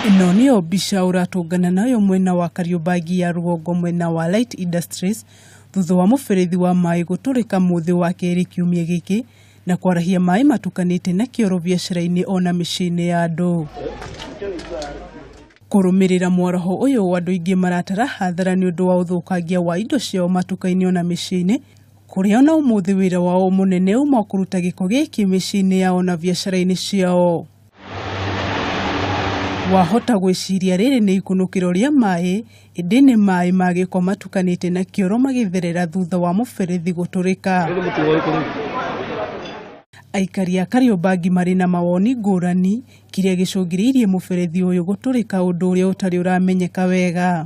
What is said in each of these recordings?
Ĩno nĩyo mbica ũratũngana nayo mwena wa Kariũmbangi ya rũgongo mwena wa Light Industries thutha wa mũberethi wa maĩ gũtũrĩka mũthĩ wa kerĩ kiumia gĩkĩ na kwarahia maĩ matukanĩte na kĩoro biacara-inĩ ona mĩciĩ-inĩ ya andũ. Kũrũmĩrĩra mwaraho ũyũ andũ aingĩ maratara hathara nĩ ũndũ wa ũthũkangia wa indo ciao matuka-inĩ ona mĩciĩ-inĩ kũrĩa ona ũmũthĩ wĩra wao mũnene uma o kũruta gĩko gĩkĩ mĩciĩ-inĩ yao na biacara-inĩ ciao. Wahota gwĩciria rĩrĩ nĩ ikunũkĩro rĩa maĩ, ĩndĩ nĩ maĩ ma gĩko matukanĩte na kĩoro magĩtherera thutha wa mũberethi gũtũrĩka. Aikari a Kariobangi marĩ na mawoni ngũrani kĩrĩa gĩcũngĩrĩirie mũberethi ũyũ gũtũrĩka ũndũ ũrĩa ũtarĩ ũramenyeka wega.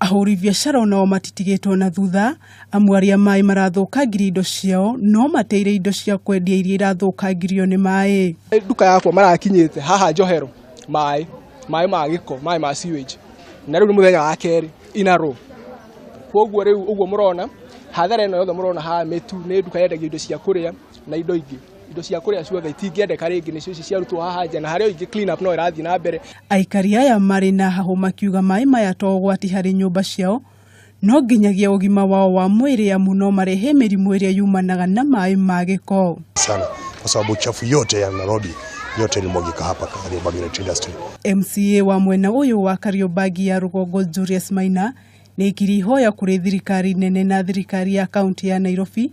Ahũri biacara onao matitigĩtwo na thutha amu arĩa maĩ marathũkangirie indo ciao no mateire indo cia kwendia iria irathũkangirio nĩ maĩ. Nduka yakwa marakinyĩte haha njohero maĩ, maĩ ma gĩko, maĩ ma sewage na rĩu nĩ mũthenya wa kerĩ in a row. Koguo rĩu ũguo mũrona hathara ĩno yothe mũrona haha mĩtu nĩ nduka yendagia indo cia kũrĩa na indo ingĩ. indo cia kũrĩa ciothe itingĩendeka rĩngĩ nĩcio ici ciarutwo haha nja na harĩa ingĩ clean up no ĩrathiĩ na mbere Aikari aya marĩ na hahũ makiuga maĩ maya to ũgwati harĩ nyũmba ciao no nginyagia ũgima wao wa mwĩrĩ amu no marehe mĩrimũ ĩrĩa yumanaga na maĩ ma gĩko. sana kwa sababu uchafu yote ya Nairobi yote ilimwagika hapa Kariobangi Net Industry. MCA wa mwena ũyũ wa Kariobangi ya rũgongo Julius Maina nĩaikiri ihoya kũrĩ thirikari nene na thirikari ya kaunti ya Nairobi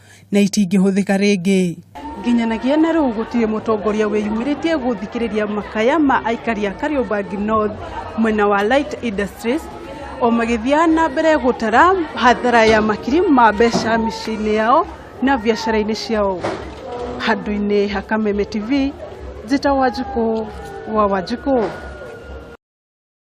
na itingĩhũthĩka rĩngĩ. Nginyanagia na rĩu gũtirĩ mũtongoria wĩyumĩrĩtie gũthikĩrĩria makaya ma aikari a Kariobangi North mwena wa Light Industries o magĩthiaga na mbere gũtara hathara ya makiri ma mbeca mĩciĩ-inĩ yao na biacara-inĩ ciao. Handũ-inĩ ha Kameme TV, njĩtagwo Wanjikũ wa Wanjikũ.